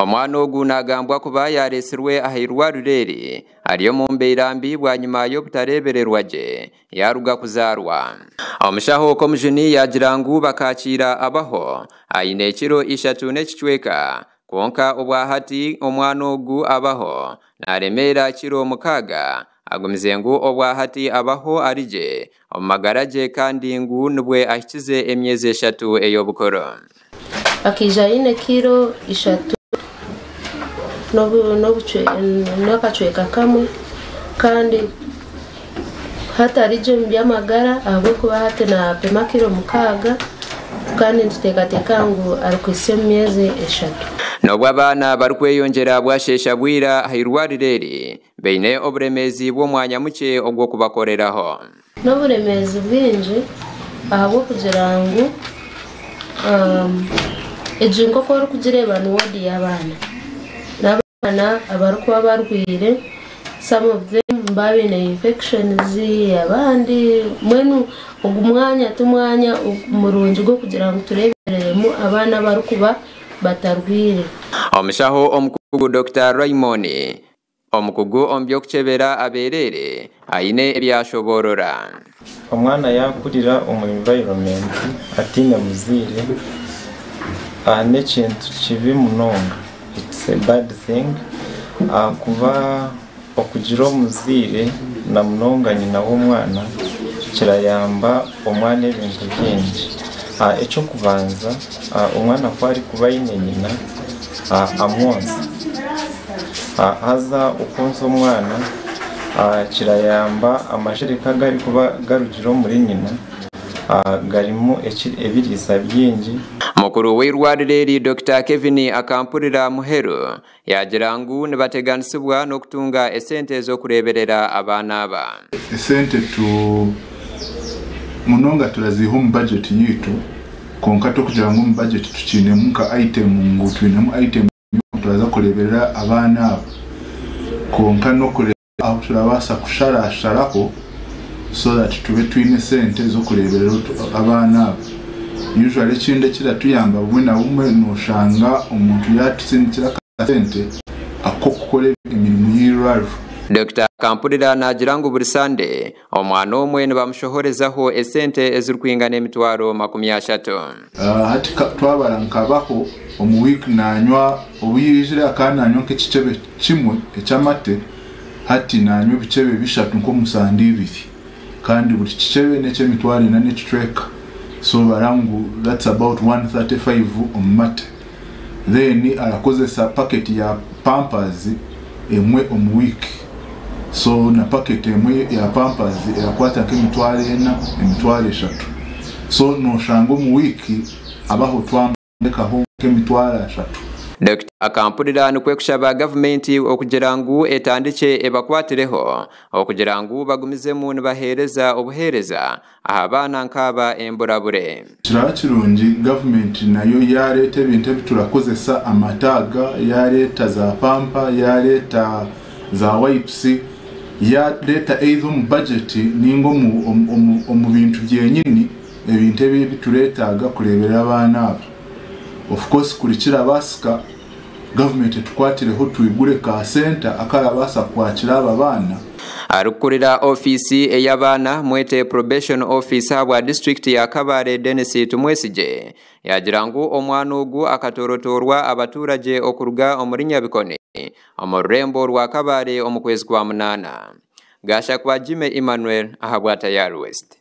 Omwana ogu nagambwa kuba yaresirwe aha irwariro eri ari omu mbeera mbi bwanyima y'obutarebererwa gye yaruga kuzarwa. Omushaho Komujuni yagira ngu bakakiira abaho aine ekiro ishatu n'ekicweka kwonka obwahati omwana ogu abaho naremeera kiro mukaaga. Agumize ngu obwahati abaho ari gye Omu magara gye kandi ngu nibwe ahikize emyezi eshatu ey'obukuru. Akaija aine kiro ishatu n'akacweka kamwe kandi hatari gye omu by'amagara ahabw'okuba hati naapima kiro mukaaga kandi nituteekateeka ngu arikuhitsya omu myezi eshatu. N'obu abaana barikweyongyera bwasheesha bwira aha irwariro eri, baine oburemeezi bw'omwanya mukye ogw'okubakoreraho. N'oburemeezi bwingi ahabw'okugira ngu egi nk'oku orikugireeba ni woodi y'abaana. Ni abaana abarikuba barwaire, some of them nibaba baine infections, abandi mbwenu ogu mwanya ti mwanya murungi gw'okugira ngu tureebereremu abaana abarikuba batarwaire. Omushaho omukugu Dokita Raymon Omukugu omu by'okukyebera abeereere aine ebi yaashoboorora. Omwana yaakurira omu environment ataine muzaire n'ekintu kibi munonga, it's a bad thing ahakuba okugira omuzaire na munonga nyina w'omwana kirayamba. omwana ebintu bingi. Eky'okubanza omwana ku arikuba aine nyina amwonsa, haza okwonsa omwana kirayamba amashereka agu arikuba garugire omuri nyina garimu ebiriisa bingi. Mukuru w'eirwariro eri Dokita Kevin Akampurira Muheru Yaagira ngu nibateganisibwa n'okutunga esente z'okureeberera abaana aba. Esente tu munonga turaziiha omu bajeti yaitu kwonka t'okugira ngu omu bajeti tukiinemu nka aitemu ngu twinemu aitemu y'oku twaza kureeberera abaana aba kwonka n'okureeba. Ahu turabaasa kusharasharaho so that tube twine sente z'okureeberera abaana abo. Usually ekindi ekiratuyamba bumwe na bumwe nooshanga omuntu yaatutsindikira akasente ak'okukora emirimo y'eirwariro. Dokita Kampurira naagira ngu buri Sande, Omwana omwe nibamushohorezaho esente ezirikwingana emitwaro makumi ashatu. Hati twabara nkabaho omu week nanywa obu yaizire akaba nanywa nk'ekicebe kimwe eky'amate hati nanywa ebicebe bishatu nk'omu sande ibiri kandi buri kicebe n'ekyemitwaro ena n'ekicweka so bara ngu that's about one thirty five omu mate. then arakozesa packet ya pampers emwe omu week so na packet emwe ya pampers erakwata nka emitwaro ena emitwaro eshatu so noshanga omu week abaho twamutekaho nka emitwaro ashatu. Dokita Akampurira nikwo kushaba gavumenti okugira ngu etandikye ebakwatireho okugira ngu bagumizemu nibahereza obuhereza aha baana nk'aba emburabure. Kiraba kirungi gavumenti nayo yaareeta ebintu ebi turakozesa, amataaga, yaareeta zaapampa, yaareeta zaawayipusi, yaareeta either omu bajeti nainga omu bintu byenyini ebintu ebi ebitureetaaga kureeberera abaana aba. Of course kuri kirabaasika. Gavumenti etukwatireho twigure ka senta akarabaasa kwakira aba baana. Arikukurira ofiisi ey'abaana, Mwete Probation Office ahabwa disiturikiti ya Kabale Denis Tumwesigye yagira ngu omwana ogu akatoorotoorwa abaturagye okuruga omuri Nyabikoni omu rurembo rwa Kabale omu kwezi kwa munaana. Gashakwa Jimmy Emmanuel ahabwa Tayari West.